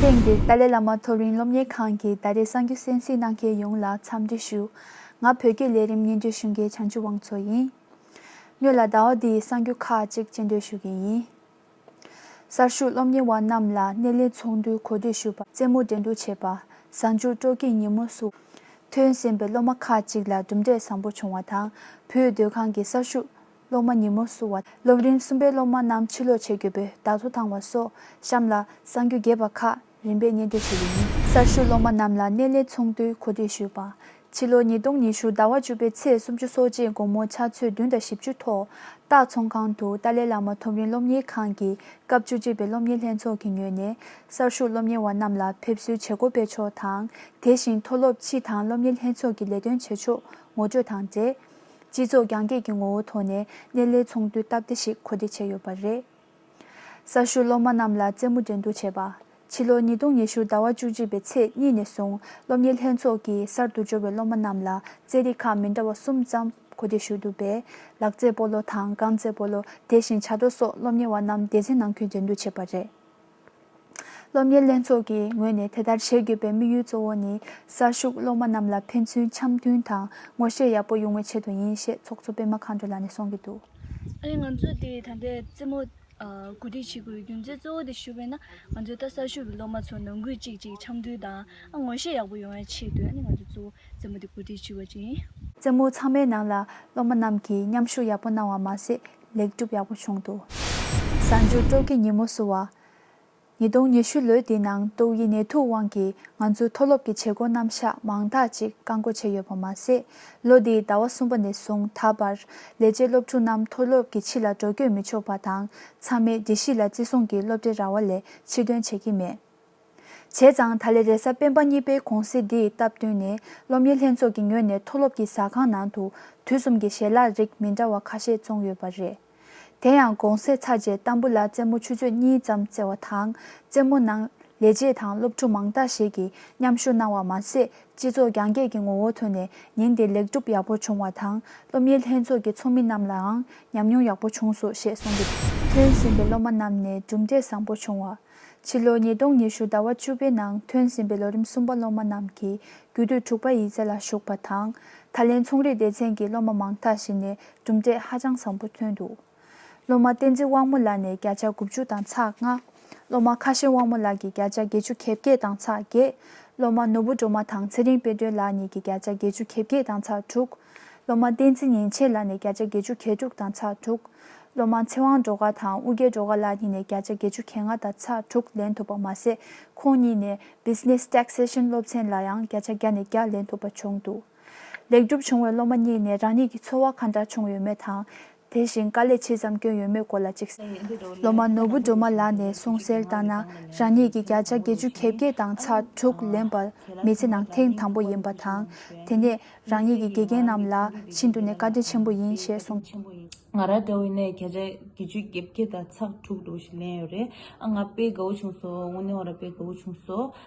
ཐེངས་འདིར་ཏཱ་ལའི་བླ་མ་མཐོ་རིམ་སློབ་གཉེར་ཁང་གི་ད་རེས་གསར་འགྱུར་གསན་གཟིགས་གནང་མཁན་ཡོངས་ལ་འཚམས་འདྲི་ཞུ། ང་བོད་སྐད་ལས་རིམ་སྙན་རྒྱུད་ཞུ་མཁན་བྱང་ཆུབ་དབང་འཚོ་ཡིན། ངོས་ལ་ཟླ་བ་འདི་ཡི་གསར་འགྱུར་ཁག་ཅིག་བཅད་འདོད་ཞུ་གི་ཡིན། གསར་ཞུགས་སློབ་གཉེར་བ་རྣམས་ལ་སྣེ་ལེན་ཚོགས་འདུའི་གོ་སྒྲིག་ཞུ་བ། རྩེད་མོ་འགྲན་བསྡུར་བྱེད་པ། གཟའ་མཇུག་སྤྲོ་སྐྱིད་ཉིན་མོ་སོགས། ཐོན་ཟིན་པའི་སློབ་མ་ཁག་ཅིག་ལ་གྲུབ་འབྲས་བཟང་པོ་བྱུང་བ་དང་བོད་སྡོད་ཁང་གི་གསར་ཞུགས་སློབ་མ་ཉིན་མོར་བསུ་བ། སློབ་རིམ་གསུམ་པའི་སློབ་མ་རྣམས་ཕྱིར་ལོག་བྱེད་དགོས་པས་བདག་ཐོ་དང་བ་སོགས་བཤམས་ལ་གསང་རྒྱུད་རྒྱས་པ་ཁག་རིམ་པས་ཉན་ཐོས་བྱེད་པའི་ཉིན། གསར་ཞུགས་སློབ་མ་རྣམས་ལ་གནས་ལས་ཚོང་དུས་གོ་སྒྲིག་ཞུས་པ། ཕྱི་ལོ་ཉིས་སྟོང་ཉི་ཤུ་ཟླ་བ་བཅུ་པའི་ཚེས་སུམ་ཅུ་སོ་གཅིག་དགོང་མོ་ཆ་ཚོད་བདུན་དང་བཞི་བཅུ་ཐོག་སྟག་ཚོང་ཁང་དུ་ཏཱ་ལའི་བླ་མ་ཐོབ་རིན་སློབ་གཉེར་ཁང་གི་སྐབས་བཅུ་གཅིག་པའི་སློབ་གཉེར་ལྷན་ཚོགས་ཀྱིས་ཉོས་ནས་གསར་ཞུགས་སློབ་གཉེར་བ་རྣམས་ལ་ཕེབས་བསུའི་བྱེད་སྒོ་སྤེལ་ཕྱོགས་དང་དེ་བཞིན་མཐོ་སློབ་སྤྱི་དང་སློབ་གཉེར་ལྷན་ཚོགས་ཀྱི་ལས་དོན་བྱེད་ཕྱོགས་ངོ་སྤྲོད་དང་འབྲེལ། སྤྱི་ཚོགས་རྒྱང་བཀྱེད་ཀྱི་ངོ་བོ་ཐོག་ནས་སྣེ་ལེན་ཚོགས་འདུའི་སྟབས་བདེ་ཞིག་གོ་བདེ་བྱས་ཡོད་པ་རེད། གསར་ཞུགས་སློབ་མ་རྣམས་ལ་རྩེད་མོ་འགྲན་བསྡུར་བྱས་པ། ཕྱི་ལོ་ཉིས་སྟོང་ཉི་ཤུ་ཟླ་བ་བཅུ་གཅིག་པའི་ཚེས་གཉིས་ནས་བཟུང་སློབ་གཉེར་ལྷན་ཚོགས་ཀྱིས་གསར་དུ་འབྱོར་བའི་སློབ་མ་རྣམས་ལ་རྩེད་རིགས་ཁག་མི་འདྲ་བ་གསུམ་ཙམ་གོ་བདེ་ཞུས་འདུག་པས། ལག་རྩེད་སྤོ་ལོ་དང་རྐང་རྩེད་སྤོ་ལོ་དེ་བཞིན་བྱ་དོར་སོགས་སློབ་གཉེར་བ་རྣམས་སྡེ་ཚན་ནང་ཁུལ་འགྲན་བསྡུར་བྱས་པ་རེད། སློབ་གཉེར་ལྷན་ཚོགས་ཀྱི་ངོས་ནས་དེ་ལྟར་བྱེད་དགོས་པའི་དམིགས་ཡུལ་གཙོ་བོ་ནི་གསར་ཞུགས་སློབ་མ་རྣམས་ལ་ཕན་ཚུན་འཆམ་མཐུན་དང་ངོ་ཤེས་ཡག་པོ་ཡོང་བའི་ཆེད་དུ་ཡིན་ཞེས་ཚོགས་གཙོ་སྤེན་མ་མཁའ་འགྲོ་ལགས་ནས་གསུངས་ཀྱི་འདུག། ཨ་རིས་ང་ཚོས་དེ་ད་ལྟའི་རྩེད་མོ་གོ་སྒྲིག་བྱེད་དགོས་རྒྱུ་མཚན་གཙོ་བོ་དེ་ཞུ་བས་ན་ང་ཚོས་ད་གསར་ཞུགས་ཀྱི་སློབ་མ་ཚོ་ནང་ཁུལ་གཅིག་ཅིག་འཆམ་མཐུན་དང་ངོ་ཤེས་ཡག་པོ་ཡོང་བའི་ཆེད་དུ་ཨ་ནི་ང་ཚོས་གཙོ་བོ་རྩེད་མོ་དེ་གོ་སྒྲིག་བྱས་པ་ཅིག་ཡིན། རྩེད་མོ་ཚང་མའི་ནང་ལ་སློབ་མ་རྣམས་ཀྱིས་མཉམ་ཞུགས་ཡག་པོ་གནང་བ་མ་ཟད་ལེགས་གྲུབ་ཡག་པོ་བྱུང་འདུག། གསར་འགྱུར་སྤྲོ་སྐྱིད་ཉིན་མོ་བསུ་བ། ཉིས་སྟོང་ཉི་ཤུ་ལོའི་འདི་ནང་ཏོག་དབྱིབས་ནད་དུག་དབང་གིས་ང་ཚོའི་མཐོ་སློབ་ཀྱི་བྱེད་སྒོ་རྣམ་གཞག་མང་དག་ཅིག་བཀག་འགོག་བྱས་ཡོད་པ་མ་ཟད། ལོ་འདིའི་ཟླ་བ་གསུམ་པ་ནས་བཟུང་ད་བར། ལས་བྱེད་སློབ་ཕྲུག་རྣམས་མཐོ་སློབ་ཀྱི་ཕྱི་ལ་འགྲོ་སྐྱོད་མི་ཆོག་པ་དང། ཚང་མས་དགེ་བཤེས་ལ་བརྩི་སྲུང་གིས་སློབ་གྲྭའི་ར་བ་ལས་ཕྱིར་ཐོན་བྱེད་ཀྱི་མེད། བྱས་ཙང་ད་ལས་རེས་གཟའ་སྤེན་པ་གཉིས་པའི་གུང་གསེང་འདི་སྟབས་བསྟུན་ནས་སློབ་གཉེར་ལྷན་ཚོགས་ཀྱི་ངོས་ནས་མཐོ་སློབ་ཀྱི་ཟ་ཁང་ནང་དུ་དུས་གསུམ་གྱི་ཞལ་ལག་རིགས་མི་འདྲ་བ་ཁ་ཤས་བཙོང་ཡོད་པ་རེད། དེ་ཡང་དགོང་ཟས་ཚར་རྗེས་གཏམ་བུ་ལ་རྩེད་མོ་ཆུ་ཚོད་གཉིས་ཙམ་རྩེ་བ་དང་རྩེད་མོ་ནང་ལས་བྱེད་དང་སློབ་ཕྲུག་མང་དག་ཞིག་གིས་མཉམ་ཞུགས་གནང་བ་མ་ཟད་སྤྱི་ཚོགས་རྒྱང་བཀྱེད་ཀྱི་ངོ་བོ་ཐོན་ནས་ཉིན་དེ་ལེགས་འགྲུབ་ཡག་པོ་བྱུང་བ་དང་སློབ་གཉེར་ལྷན་ཚོགས་ཀྱི་ཚོགས་མི་རྣམས་ལའང་ཉམས་མྱོང་ཡག་པོ་བྱུང་སོང་ཞེས་གསུངས་འདུག་ཐོན་ཟིན་པའི་སློབ་མ་རྣམས་ནས་གྲུབ་འབྲས་བཟང་པོ་བྱུང་བ། ཕྱི་ལོ་ཉིས་སྟོང་ཉི་ཤུ་ཟླ་བ་བཅུ་པའི་ནང་ཐོན་ཟིན་པའི་ལོ་རིམ་གསུམ་པ་སློབ་མ་རྣམས་ཀྱིས་རྒྱུད་སྟོད་དྲུག་པ་ཡི་ཚེ་ལ་ཞུགས་པ་དང། ད་ལན་ཚོང་རིག་སྡེ་ཚན་གྱི་སློབ་མ་མང་དག་ཞིག་ནས་གྲུབ་འབྲས་ཧ་ཅང་བཟང་པོ་ཐོན་འདུག་སློབ་མ་བསྟན་འཛིན་དབང་མོ་ལགས་ནས་བརྒྱ་ཆ་དགུ་བཅུ་དང་ཚགས་ལྔ། སློབ་མ་ཁ་ཞེན་དབང་མོ་ལགས་ཀྱིས་བརྒྱ་ཆ་བརྒྱད་ཅུ་གེ་བརྒྱད་དང་ཚགས་བརྒྱད། སློབ་མ་ནོར་བུ་སྒྲོལ་མ་དང་ཚེ་རིང་དཔལ་སྒྲོན་ལགས་གཉིས་ཀྱིས་བརྒྱ་ཆ་བརྒྱད་ཅུ་གེ་བརྒྱད་དང་ཚགས་དྲུག། སློབ་མ་བསྟན་འཛིན་ཉིན་བྱེད་ལགས་ནས་བརྒྱ་ཆ་བརྒྱད་ཅུ་གྱ་དྲུག་དང་ཚ་དྲུག། སློབ་མ་ཚེ་དབང་སྒྲོལ་དཀར་དང་དབུ་རྒྱལ་སྒྲོལ་དཀར་ལགས་གཉིས་ནས་བརྒྱ་ཆ་བརྒྱད་ཅུ་གྱ་ལྔ་དང་ཚ་དྲུག་ལེན་ཐུབ་པ་མ་ཟད་ཁོང་གཉིས་ནས Business Taxation སློབ་ཚན་ལ་ཡང་བརྒྱ་ཆ་བརྒྱ་ནས་བརྒྱ་ལེན་ཐུབ་པ་བྱུང་འདུག་ལེགས་གྲུབ་བྱུང་བའི་སློབ་མ་གཉིས་ནས་རང་ཉིད་ཀྱི་འཚོ་བ་ག་འདྲ་བྱུང་ཡོད་མེད་དང། དེ་བཞིན་དཀའ་ལས་ཇི་ཙམ་བསྐྱོན་ཡོད་མེད་སྐོར་ལ་གཅིག་སློབ་མ་ནོར་བུ་སྒྲོལ་མ་ལགས་ནས་གསུང་གསལ་ལྟར་ན་རང་ཉིད་ཀྱི་བརྒྱ་ཆ་བརྒྱད་ཅུ་གྱེས་བརྒྱད་དང་ཚ་དྲུག་ལེན་པ་མི་ཚེ་ནང་ཐེངས་དང་པོ་ཡིན་པ་དང། དེ་ནས་རང་ཉིད་ཀྱི་དགེ་རྒན་རྣམས་ལ་ཤིན་ཏུ་ནས་བཀའ་དྲིན་ཆེན་པོ་ཡིན་ཞེས་གསུངས། ང་རང་དགའ་བོ་ནས་བརྒྱ་ཆ་བརྒྱད་ཅུ་གྱེས་བརྒྱད་དང་ཚགས་དྲུག་ལོ་ཞིག་ལེན་ཡོད་རེད་ཨ་ང་དཔེ་དགའ་བོ་བྱུང་སོང་ངོ་ནི་ཨོ་ར་དཔེ་དགའ་བོ་བྱུང་སོང།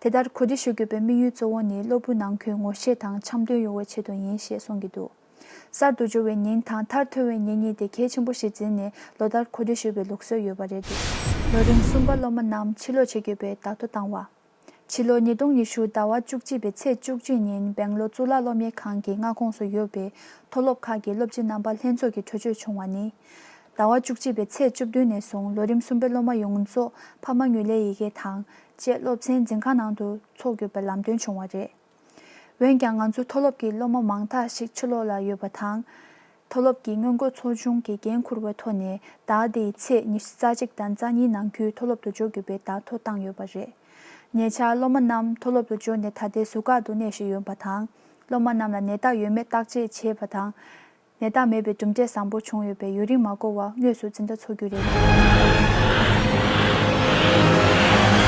དེ་ལྟར་གོ་སྒྲིག་ཞུ་དགོས་པའི་དམིགས་ཡུལ་གཙོ་བོ་ནི་སློབ་བུ་ནང་ཁུལ་ངོ་ཤེས་དང་འཆམ་མཐུན་ཡོང་བའི་ཆེད་དུ་ཡིན་ཞེས་གསུང་གི་འདུག་གསར་དུ་འབྱོར་བའི་ཉིན་དང་མཐར་ཐོན་བའི་ཉིན་གཉིས་དེ་གལ་ཆེན་པོ་ཞིག་འཛིན་ནས་ལོ་ལྟར་གོ་སྒྲིག་ཞུ་བའི་ལུགས་སྲོལ་ཡོད་པ་རེད་འདུག་ལོ་རིམ་གསུམ་པ་སློབ་མ་རྣམས་ཕྱི་ལོག་བྱེད་དགོས་པའི་བརྡ་ཐོ་བཏང་བ། ཕྱི་ལོ་ཉིས་སྟོང་ཉི་ཤུ་ཟླ་བ་བཅུ་གཅིག་པའི་ཚེས་བཅུ་གཅིག་ཉིན་སྦེང་ལོ་གཙུག་ལག་སློབ་གཉེར་ཁང་གི་མངའ་ཁོངས་སུ་ཡོད་པའི་མཐོ་སློབ་ཁག་གི་སློབ་སྤྱི་རྣམ་པ་ལྷན་ཚོགས་ཀྱི་གྲོས་ཆོད་བྱུང་བ་ནི། ཟླ་བ་བཅུ་གཅིག་པའི་ཚེས་བཅུ་བདུན་ནས་བཟུང་ལོ་རིམ་གསུམ་པའི་སློབ་མ་ཡོངས་རྫོགས་ཕ་མ་ངོས་ལེན་ཡི་གེ་དང་བཅས་སློབ་ཚན་འཛིན་ཁང་ནང་དུ་འཚོགས་དགོས་པའི་ལམ་སྟོན་བྱུང་བ་རེད། འོན་ཀྱང་ང་ཚོའི་མཐོ་སློབ་ཀྱི་སློབ་མ་མང་དག་ཞིག་ཕྱི་ལོགས་ལ་ཡོད་པ་དང། མཐོ་སློབ་ཀྱི་སྔོན་འགོད་ཚོ་ཆུང་གི་འགན་འཁུར་བའི་ཐོག་ནས་ཟླ་འདིའི་ཚེས་ཉི་ཤུ་རྩ་གཅིག་དང་རྩ་གཉིས་ནང་ཁུལ་མཐོ་སློབ་ཏུ་འབྱོར་དགོས་པའི་བརྡ་ཐོ་བཏང་ཡོད་པ་རེད། ཉེ་ཆར་སློབ་མ་རྣམས་མཐོ་སློབ་ཏུ་འབྱོར་ནས་ད་ལྟའི་ཟུར་བཀག་ཏུ་གནས་བཞིན་ཡོད་པ་དང། སློབ་མ་རྣམས་ལ་ནད་རྟགས་ཡོད་མེད་བརྟག་དཔྱད་བྱེད་པ་དང། ནད་རྟགས་མེད་པའི་གྲུབ་འབྲས་བཟང་པོ་བྱུང་ཡོད་པས་ཡུན་རིང་མ་འགོར་བར་དངོས་སུ་འཛིན་གྲྭ་འཚོགས་རྒྱུ་རེད།